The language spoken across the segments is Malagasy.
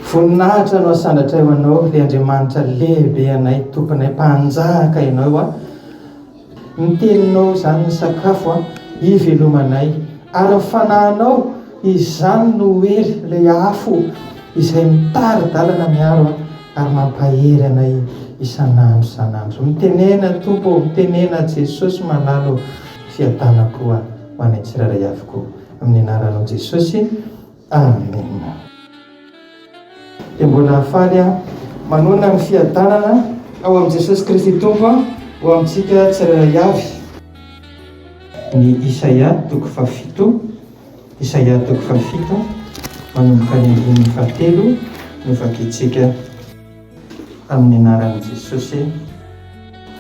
Voninahitra no asandratray ho anao, ilay Andriamanitra lehibe anay, tomponay, mpanjaka ianao a. Ny teninao izany ny sakafo a, ivelomanay. Ary ny fanahinao Izany no hery ilay afo izay mitari-dalana miaro ahy ary mampahery anay isan'andro isan'andro. Mitenena Tompo ô, mitenena Jesosy malala ô, fiadanam-po ho anay tsirairay avokoa. Amin'ny anaranao Jesosy, Amena. Dia mbola hafaly aho manonona ny fiadanana ao amin'i Jesosy Kristy Tompo ho amintsika tsirairay avy. Ny Isaia toko fahafito Isaia toko fahafito manomboka ny andininy fahatelo no vakintsika. Tamin'ny anaran'i Jesosy e!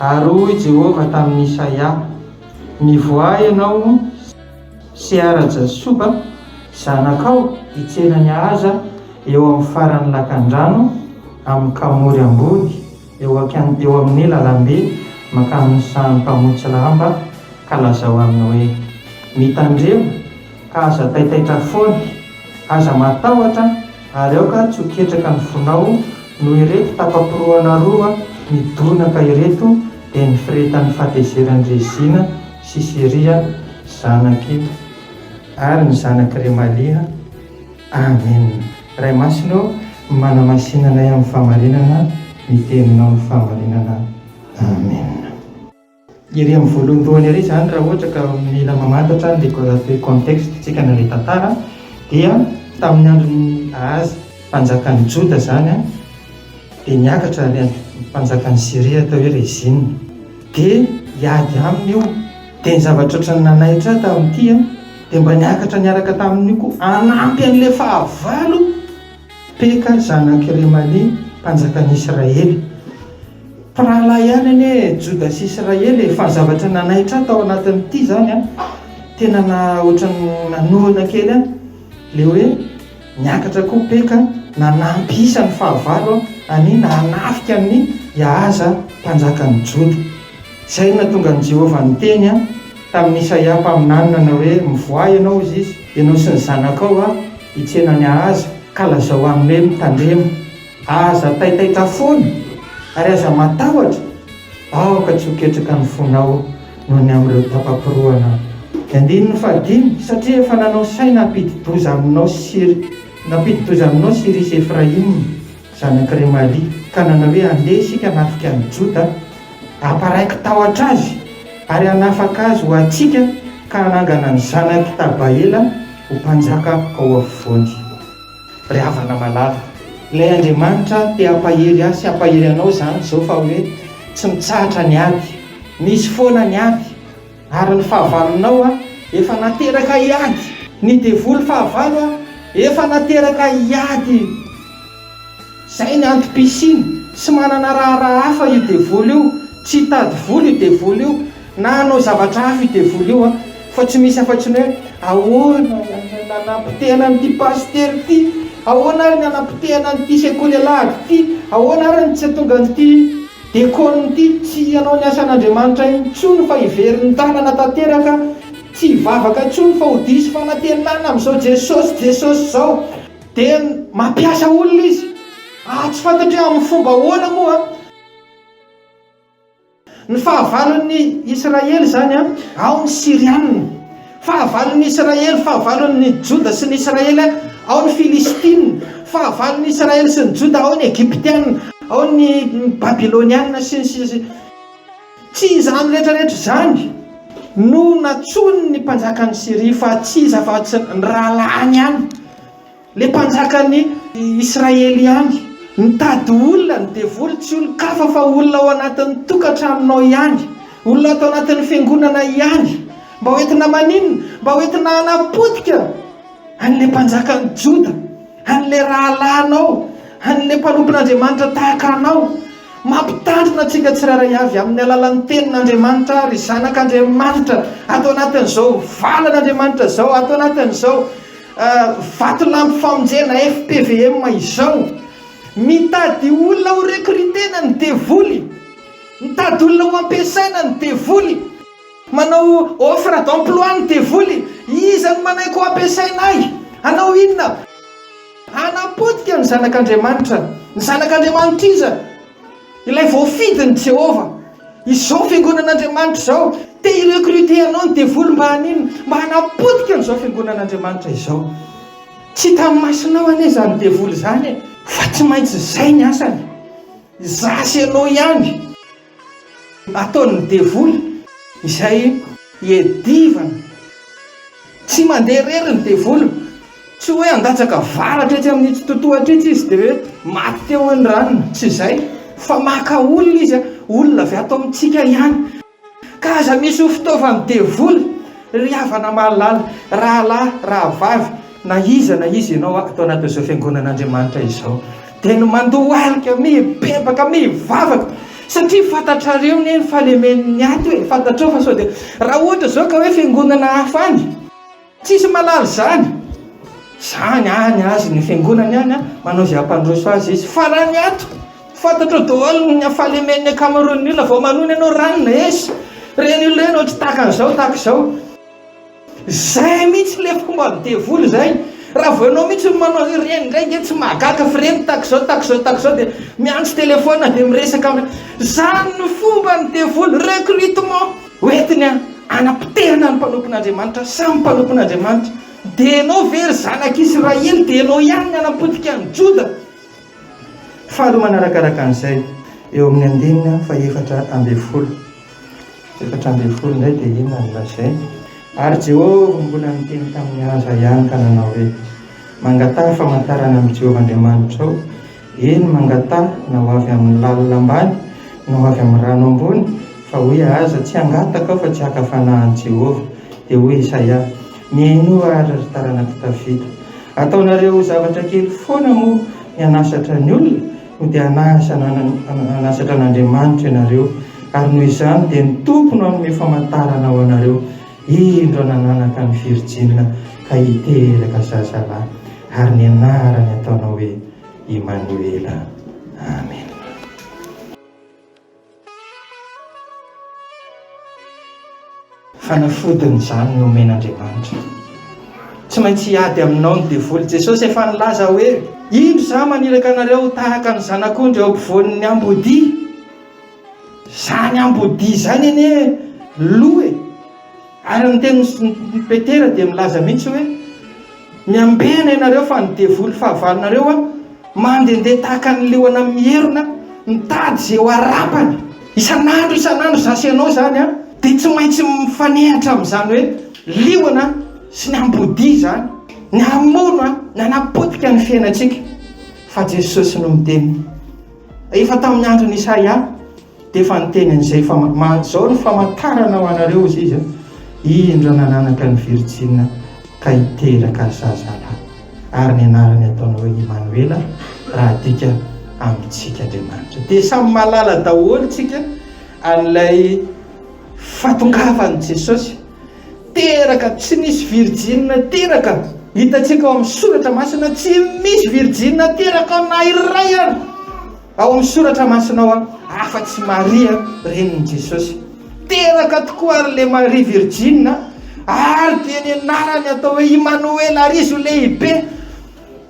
Ary hoy Jehovah tamin'i Isaia, Mivoaha ianao Seara-Jasuba, zanakao, hitsena ny ahaza eo amin'ny faran'ny lakandrano, amin'ny Kamory ambony, eo akan, eo amin'ny lalambe mankamin'ny sahan'ny mpamotsy lamba, ka lazao aminy hoe, Mitandrema, Ka aza taitaitra foana, aza matahotra ary aoka tsy ho ketraka ny fonao noho ireto tapa-porohana roa midonaka ireto dia ny firehetan'ny fahatezeran'i Rezina sy Siria zanak'i ary ny zanak'i Remalia. Amen. Ray Masina ô, manamasina anay amin'ny fahamarinana ny teninao ny fahamarinana. Amen. Ery amin'ny voalohandohany ery izany raha ohatra ka mila mamantatra ny le contexte tsika na ilay tantara dia tamin'ny andron'i Ahaza mpanjakan'ny Joda izany an dia niakatra ilay mpanjakan'i Syria atao hoe Rezina dia hiady aminy io dia ny zavatra ohatran'ny nanaitra ahy tamin'ity an dia mba niakatra niaraka tamin'io koa hanampy an'ilay fahavalo Peka zanak' i Remalia mpanjakan' Israely. Mpirahalahy ihany anie Joda sy Israely e! Fa ny zavatra nanaitra ahy tao anatin'ity izany an, tena na ohatran'ny nanohana kely ahy ilay hoe niakatra koa Peka nanampy isa ny fahavalo an'i na hanafika an'i Iahaza mpanjakan'ny Joda. Izay no nahatonga an'i Jehovah niteny tamin'i Isaia mpaminany nanao hoe, Mivoaha ianao, hoy izy, ianao sy ny zanakao, Hitsena ny azy ka lazao aminy hoe mitandrema. Aza taitaitra fona ary aza matahotra. Aoka tsy ho ketraka ny fonao noho ny amin'ireo tapa-porohana. Ny andininy fahadimy, Satria efa nanao saina hampidi-doza aminao sy nampidi-doza aminao sy Irisy Efraima. Zanak'i Remalia, ka nanao hoe, Andeha isika hanafika an'i Joda, hamparaiko tahotra azy, ary hanafaka azy ho antsika, ka hanangana ny zanak'i Tabaela ho mpanjaka ao afovoany. Ry havana malala, ilay Andriamanitra te hampahery ahy sy hampahery anao izany izao, fa hoe tsy mitsahatra ny ady. Misy foana ny ady. Ary ny fahavalonao a, efa nateraka hiady. Ny devoly fahavalo a, efa nateraka hiady. Izay ny antom-pisiany, tsy manana raharaha hafa io devoly io, tsy hitady vola io devoly io, na hanao zavatra hafa io devoly io a, fa tsy misy afa-tsy ny hoe, ahoana ary ny nanapotehana an'ity pasitera ity, ahoana ary ny nanapotehana an'ity sekoly alahady ity, ahoana ary ny tsy hahatonga an'ity. Diakonin'ity tsy hanao ny asan'Andriamanitra intsony fa hiveriny tanana tanteraka, tsy hivavaka intsony fa ho diso fanantenana amin'izao Jesosy Jesosy izao. Dia mampiasa olona izy. Ah, tsy fantatro hoe amin'ny fomba ahoana moa an. Ny fahavalon'ny Israely izany an, ao ny Syriana. Fahavalon'ny Israely, fahavalon'ny Joda sy ny Israely, ao ny Filistina, fahavalon'ny Israely sy ny Joda, ao ny Egyptiana, ao ny Babyloniana, sy ny sisa Tsy izany rehetra rehetra izany no nantsoin'ny mpanjakan'i Syria fa tsy izy afa-tsy ny rahalahiny ihany. Le mpanjakan'ny Israely ihany. Mitady olona ny devoly, tsy olon-kafa fa olona ao anatin'ny tokantranonao ihany, olona ato anatin'ny fiangonana ihany. Mba ho entina maninona? Mba ho entina hanapotika an'ilay mpanjakan'ny Joda, an'ilay rahalahinao, an'ilay mpanompon'Andriamanitra tahaka anao. Mampitandrina antsika tsirairay avy amin'ny alalan'ny Tenin'Andriamanitra àry zanak'Andriamanitra ato anatin'izao valan'Andriamanitra izao, ato anatin'izao. Vatolampy Famonjena, FPVM, izao. Mitady olona ho recruter-na ny devoly. Mitady olona ho ampiasaina ny devoly. Manao offre d'emploi ny devoly. Iza no manaiky ho ampiasaina ahy? Hanao inona? Hanapotika ny Zanak'Andriamanitra. Ny Zanak'Andriamanitr'iza? Ilay voafidin'i Jehovah. Izao fiangonan'Andriamanitra izao, te hi-recruter anao ny devoly mba haninona? Mba hanapotika an'izao fiangonan'Andriamanitra izao. Tsy hitan'ny masonao anie izany devoly izany e! Fa tsy maintsy izay ny asany. Izaho sy ianao ihany. Ataon'ny devoly izay hiadivany. Tsy mandeha irery ny devoly. Tsy hoe handatsaka varatra etsy amin'itsy totohatra itsy izy dia hoe maty teo hoy ny ranona. Tsy izay. Fa maka olona izy, olona avy ato amintsika ihany. Ka aza misy ho fitaovan'ny devoly, ry havana mahalala, rahalahy, rahavavy, na iza na iza ianao ato anatin'izao fiangonan'Andriamanitra izao. dia ny mandohalika mibebaka mivavaka satria fantatrareo ne ny falemen'ny ato e fantatrao fa sao dia raha ohatra zao ka hoe fiangonana hafa any tsisy malala izany zany any azy ny fiangonany any a manao izay hampandroso azy izy fa raha ny ato fantatrao daholo ny falemen'ny ankamaroan'ny olona vao manona ianao ranona esy ireny olona ireny ohatry tahaka an'izao tahaka izao Zay mihitsy le fomba ny devoly zay, raha vao enao mihitsy no manao ireny indray dia tsy mahagaga fa ireny tax zao tax zao tax zao dia miantso telephone dia miresaka aminy, zany no fomba ny devoly, recrutement hoentiny hanapotehana ny mpanompon' Andriamanitra, samy mpanompon' Andriamanitra, dia enao ve ry zanak' Israely dia enao ihany ny hanapotika an'i Joda? Faharoa manarakaraka an'izay, eo amin'ny andininy fahefatra ambin'ny folo. Efatra ambin'ny folo indray dia inona no lazainy? Ary Jehovah mbola niteny tamin'i Asa ihany ka nanao hoe, Mangataha famantarana amin'i Jehovah Andriamanitrao, eny, mangataha, na ho avy amin'ny lalina ambany, na ho avy amin'ny rano ambony, fa hoy Asa, Tsy hangataka aho fa tsy haka fanahy an'i Jehovah. Dia hoy Isaia, Mihenoa àry, ry taranak'i Davida. Ataonareo ho zavatra kely foana moa ny hanasatra ny olona? Sao dia hanasa na hanasatra an' Andriamanitra ianareo, ary noho izany dia ny Tompo no hanome famantarana ho anareo, indro nananaka ny virjina ka hiteraka zazalahy, ary ny anarany ataonao hoe Imanoela. Amena. Fanafodiny izany nomen' Andriamanitra. Tsy maintsy hiady aminao ny devoly. Jesosy efa nilaza hoe, Indro izaho maniraka anareo ho tahaka ny zanak'ondry eo ampovoan' ny ambodia. Izany ambodia izany anie lo e! Ary ny tenin'i Petera dia milaza mihitsy hoe, Miambena ianareo fa ny devoly fahavalonareo mandehandeha tahaka ny liona mierona mitady izay ho arapany. Isan'andro isan'andro izaho sy ianao izany dia tsy maintsy mifanehatra amin'izany hoe liona sy ny ambodia izany, ny hamono ny hanapotika ny fiainantsika. Fa Jesosy no miteny. Efa tamin'ny andron'i Isaia Dia efa niteny an'izay fa izao ny famantarana ho anareo, hoy izy, indro nananaka ny virjina ka hiteraka zazalahy, ary ny anarany hataony hoe Imanoela, raha adika amintsika Andriamanitra. Dia samy mahalala daholo isika an'ilay fahatongavan'i Jesosy. Teraka, tsy nisy virjina teraka. Hitantsika ao amin'ny soratra masina, tsy misy virjina teraka na iray ary. Ao amin'ny soratra masina ao afa-tsy Maria renin'i Jesosy. Teraka tokoa ary le Maria virjina ary dia ny anarany atao hoe Imanoela ary izy ho lehibe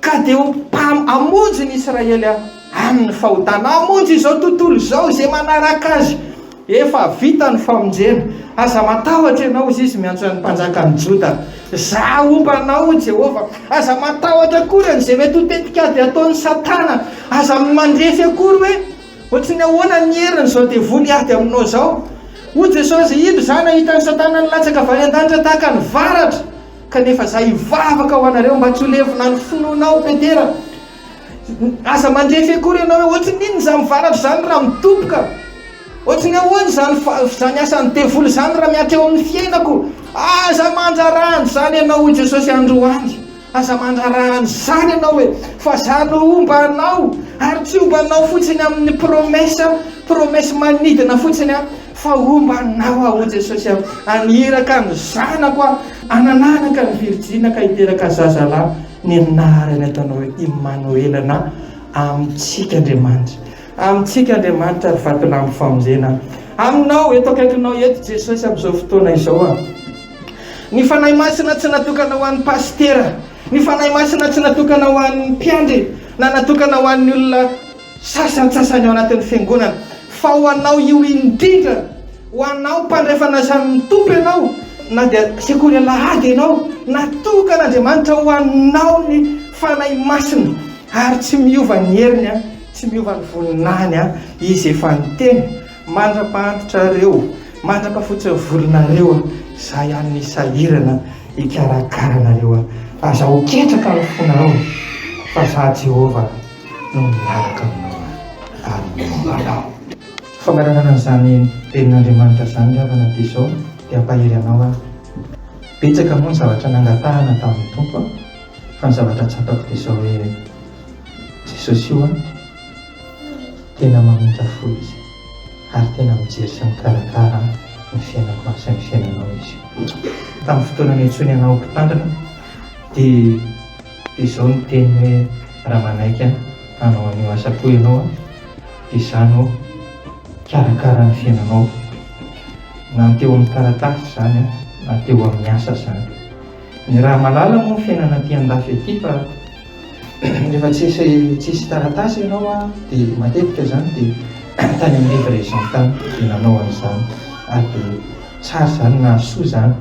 ka dia ho mpam hamonjy ny Israely amin'ny fahotana. Hamonjy izao tontolo izao izay manaraka azy. Efa vita ny famonjena. Aza matahotra ianao, hoy izy, miantso an'ny mpanjakan'ny Joda. Izaho homba anao, hoy Jehovah. Aza matahotra akory an'izay mety ho tetikady ataon'i Satana. Aza mandrefy akory hoe, Hoatry ny ahoana ny herin'izao devoly hiady aminao izao? Hoy Jesosy, Indro izaho nahita an'i Satana nilatsaka avy any an-danitra tahaka ny varatra. Kanefa izaho hivavaka ho anareo mba tsy ho levona ny finoanao, Petera. Aza mandefy akory ianao hoe ohatry ny inona izany mivaratra izany raha mitoboka. Ohatry ny ahoana izany izany asan'ny devoly izany raha miatreo amin'ny fiainako. Aza mandrara an'izany ianao hoy Jesosy androany. Aza mandrara an'izany ianao e. Fa za no homba anao ary tsy homba anao fotsiny amin'ny promesse, promesse manidina fotsiny an. Fa homba anao aho, O Jesosy an, haniraka ny zanako aho hananaraka ny virjina ka hiteraka zazalahy, ny anarany ataonao hoe Imanoela na Amintsika Andriamanitra. Amintsika Andriamanitra ry vatolampy famonjena. Aminao, eto akaikinao eto Jesosy amin'izao fotoana izao an. Ny Fanahy Masina tsy natokana ho an'ny pasitera, ny Fanahy Masina tsy natokana ho an'ny mpiandry na natokana ho an'ny olona sasantsasany ao anatin'ny Fiangonana, fa ho anao io indrindra, ho anao mpandrefana isan'ny Tompo ianao, na dia sekoly alahady ianao, natokan'Andriamanitra ho anao ny Fanahy Masina, ary tsy miova ny heriny an, tsy miova ny voninahiny an, Izy efa niteny, Mandra-pahantotrareo, mandra-pafotson'ny volonareo an, Izaho ihany ny sahirana hikarakara anareo an, aza ho ketraka ny fonareo, fa Izaho Jehovah. no miaraka aminao ary miambara aho. Fangalarana an'izany Tenin'Andriamanitra izany ry havana dia izao, dia hampahery anao aho. Betsaka moa ny zavatra nangatahana tamin'ny Tompo aho, fa ny zavatra tsapako dia izao hoe, Jesosy io an, tena mamindra fo Izy, ary tena mijery sy mikarakara ny fiainako an, sy ny fiainanao Izy io. Tamin'ny fotoana niantsoany anao ho mpitandrina, dia. Dia izao no teniny hoe, Raha manaiky ahy hanao an'io asa koa ianao an, dia izaho no hikarakara ny fiainanao. Na ny teo amin'ny taratasy izany an, na teo amin'ny asa izany. Ny raha malala moa ny fiainana aty andafy aty fa rehefa tsisy tsisy taratasy ianao an, dia matetika izany dia tany amin'ny livraison tany dia nanao an'izany. Ary dia tsara izany, nahasoa izany.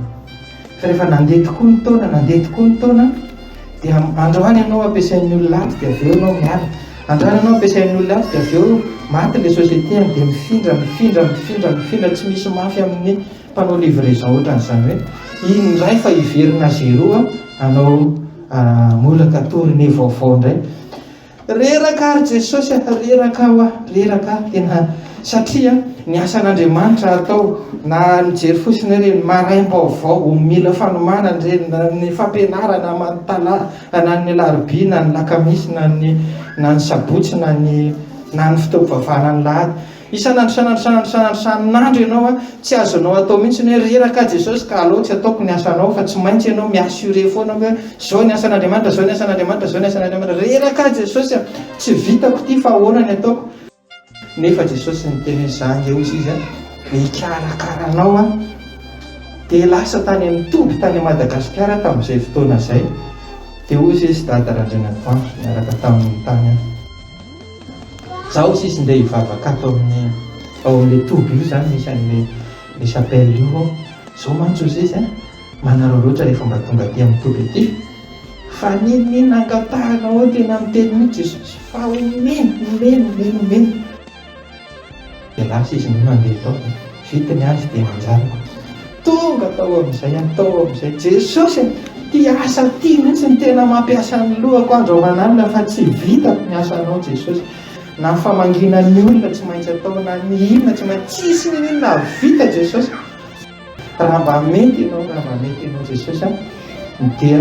Fa rehefa nandeha tokoa ny taona, nandeha tokoa ny taona, dia androany ianao ampiasain'ny olona ato dia avy eo ianao miala. Androany ianao ampiasain'ny olona ato dia avy eo maty ilay société any dia mifindra, mifindra, mifindra, mifindra, tsy misy mafy amin'ny mpanao livraison ohatran'izany hoe indray fa hiverina à zero hanao molaka tournée vaovao indray. Reraka ary Jesosy a! Reraka aho a! Reraka aho tena satria ny asan'Andriamanitra atao na mijery fotsiny hoe reny maraim-baovao vao mila fanomanana reny na ny fampianarana aman tala na ny alarobia na ny lakamisy na ny na ny sabotsy na ny na ny fotoam-pivavahana ny lahady Isan'andro isan'andro isan'andro isan'andro isan'andro ianao a, tsy azonao atao mihitsy ny hoe reraka Jesosy ka alou tsy ataoko ny asanao fa tsy maintsy ianao mi assurer foana hoe zao ny asan'Andriamanitra zao ny asan'Andriamanitra zao ny asan'Andriamanitra reraka Jesosy a, tsy vitako ity fa ahoana ny ataoko? Nefa Jesosy niteny hoe za nge hozy izy a, mikarakara anao aho dia lasa tany amin'ny toby tany Madagasikara tamin'izay fotoana izay dia hozy izy dada Randrianatoandro niaraka tamin'ny tany aho. Zaho sisa ndeha hivavaka ato amin'ny ao amin'ilay toby io zany misy an'ilay le chapelle io aho, zao mantsy ry sisa a, manarao loatra rehefa mba tonga aty amin'ny toby aty fa n'inon'inona angatahanao eo tena miteny mihitsy Jesosy fa omeny, omeny, omeny, omeny. Dia lasa izy no nandeha tao dia vita ny ady dia manjanaka. Tonga tao amin'izay aho tao amin'izay, Jesosy e! Ity asa ity mihitsy no tena mampiasa ny lohako andro aman'alina fa tsy vitako ny asanao Jesosy. Na famangiana ny olona tsy maintsy atao, na ny inona tsy maintsy, tsisy n'inon'inona vita Jesosy. Raha mba mety ianao, raha mba mety ianao Jesosy a, dia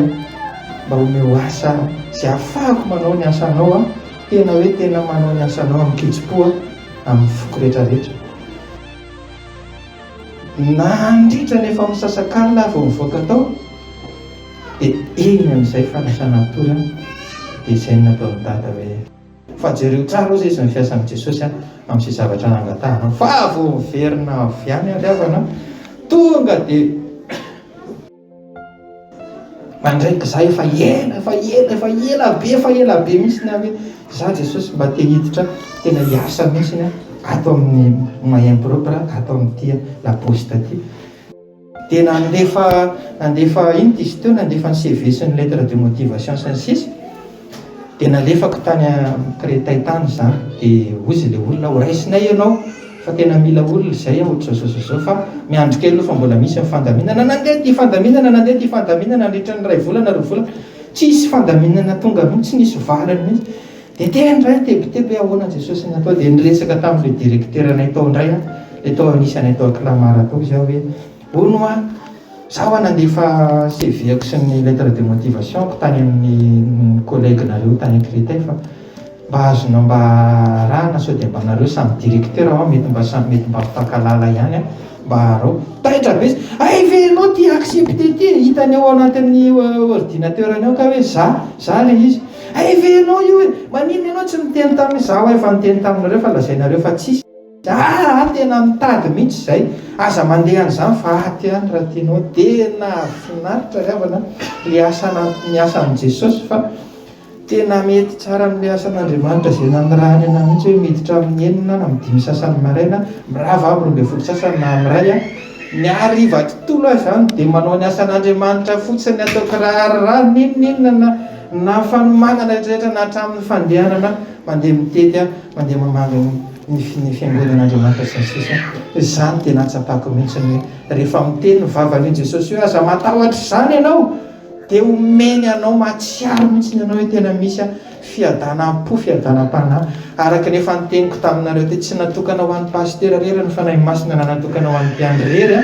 mba omeo asa izay ahafahako manao ny asanao a, tena hoe tena manao ny asanao amin-kitsim-po a, amin'ny foko rehetra rehetra. Nandritra ny efa misasakalina aho vao nivoaka tao, dia eny amin'izay fanasana atody a, dia izay no nataon'i Dada hoe. Fa jereo tsara ozy izy ny fiasan'i Jesosy amin'izay zavatra nangatahana. Fa vao miverina avy any ry havana, tonga dia mandray kizà efa ela, efa ela, efa ela be, efa ela be mihitsy na hoe za Jesosy mba te hiditra tena hiasa mihitsy ato amin'ny main propre ato amin'ity la poste ity. Dia nandefa nandefa inty izy teo, nandefa ny CV sy ny lettre de motivation sy ny sisa Dia nalefako tany amin'ny Créteil tany izany, dia hoy izy ilay olona, horaisinay ianao fa tena mila olona izay an, ohatr'izao izao izao fa miandry kely aloha fa mbola misy ny fandaminana, nandeha ity fandaminana, nandeha ity fandaminana nandritra ny iray volana, roa volana, tsisy fandaminana tonga mihintsy, tsy nisy valiny mihintsy. Dia tena indray tebiteby hoe ahoana Jesosy no atao dia niresaka tamin'ilay directeranay tao indray aho, ilay tao anisanay tao Clamart tao izy aho hoe hono hoa zaho hoa nandefa CV-ko sy ny lettre de motivation-ko tany amin'ny collègue-nareo tany Créteil fa mba azonao mba arahana sao dia mba nareo samy directeur hoa mety mba samy mety mba mifankalala ihany an, mba arao. Taitra be izy, hay ve ianao tia accepter ity e, hitany ao anatin'ny ordinateur-ny ao kay hoe za, za ilay izy. Hay ve ianao io e! Maninona ianao tsy niteny tamin izaho aho efa niteny taminareo fa lazainareo fa tsy hisy Aa tena mitady mihitsy izay Aza mandeha an'izany fa aty any raha tianao Tena finaritra ry havana ilay asa anaty ny asan'i Jesosy fa Tena mety tsara amin'ilay asan'Andriamanitra izay nanirahany anah mihitsy hoe miditra amin'ny enina na amin'ny dimy sasany maraina mirava amin'ny roa ambin'ny folo sasany na amin'ny iray ny hariva tontolo aho izany dia manao ny asan'Andriamanitra fotsiny ataoko raha raha n'inon'inona na Na fanomanana rehetra rehetra na hatramin'ny fandehanana mandeha mitety, mandeha mamangy ny ny fiangonan'Andriamanitra sy ny sisa izany dia nahatsapako mihitsy ny hoe rehefa miteny ny vavan'ny hoe Jesosy hoe aza matahotra izany ianao dia omeny anao mahatsiaro mihitsy ianao hoe tena misy fiadanam-po fiadanam-panahy araka ny efa niteniko taminareo teo tsy natokana ho an'ny pasitera rery ny fanahy masina na natokana ho an'ny mpiandry rery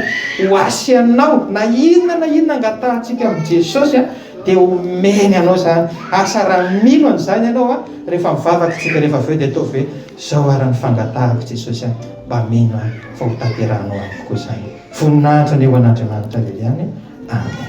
ho asianao na inona na inona angatahantsika amin'i Jesosy Dia omeny anao izany. Asa raha mino an'izany ianao an, rehefa mivavaka isika rehefa avy eo dia ataovy hoe, izao ary ny fangatahako Jesosy an, mba mino aho fa ho tanterahanao amiko koa izany. Voninahitra anie ho an'Andriamanitra Liliane. Amen.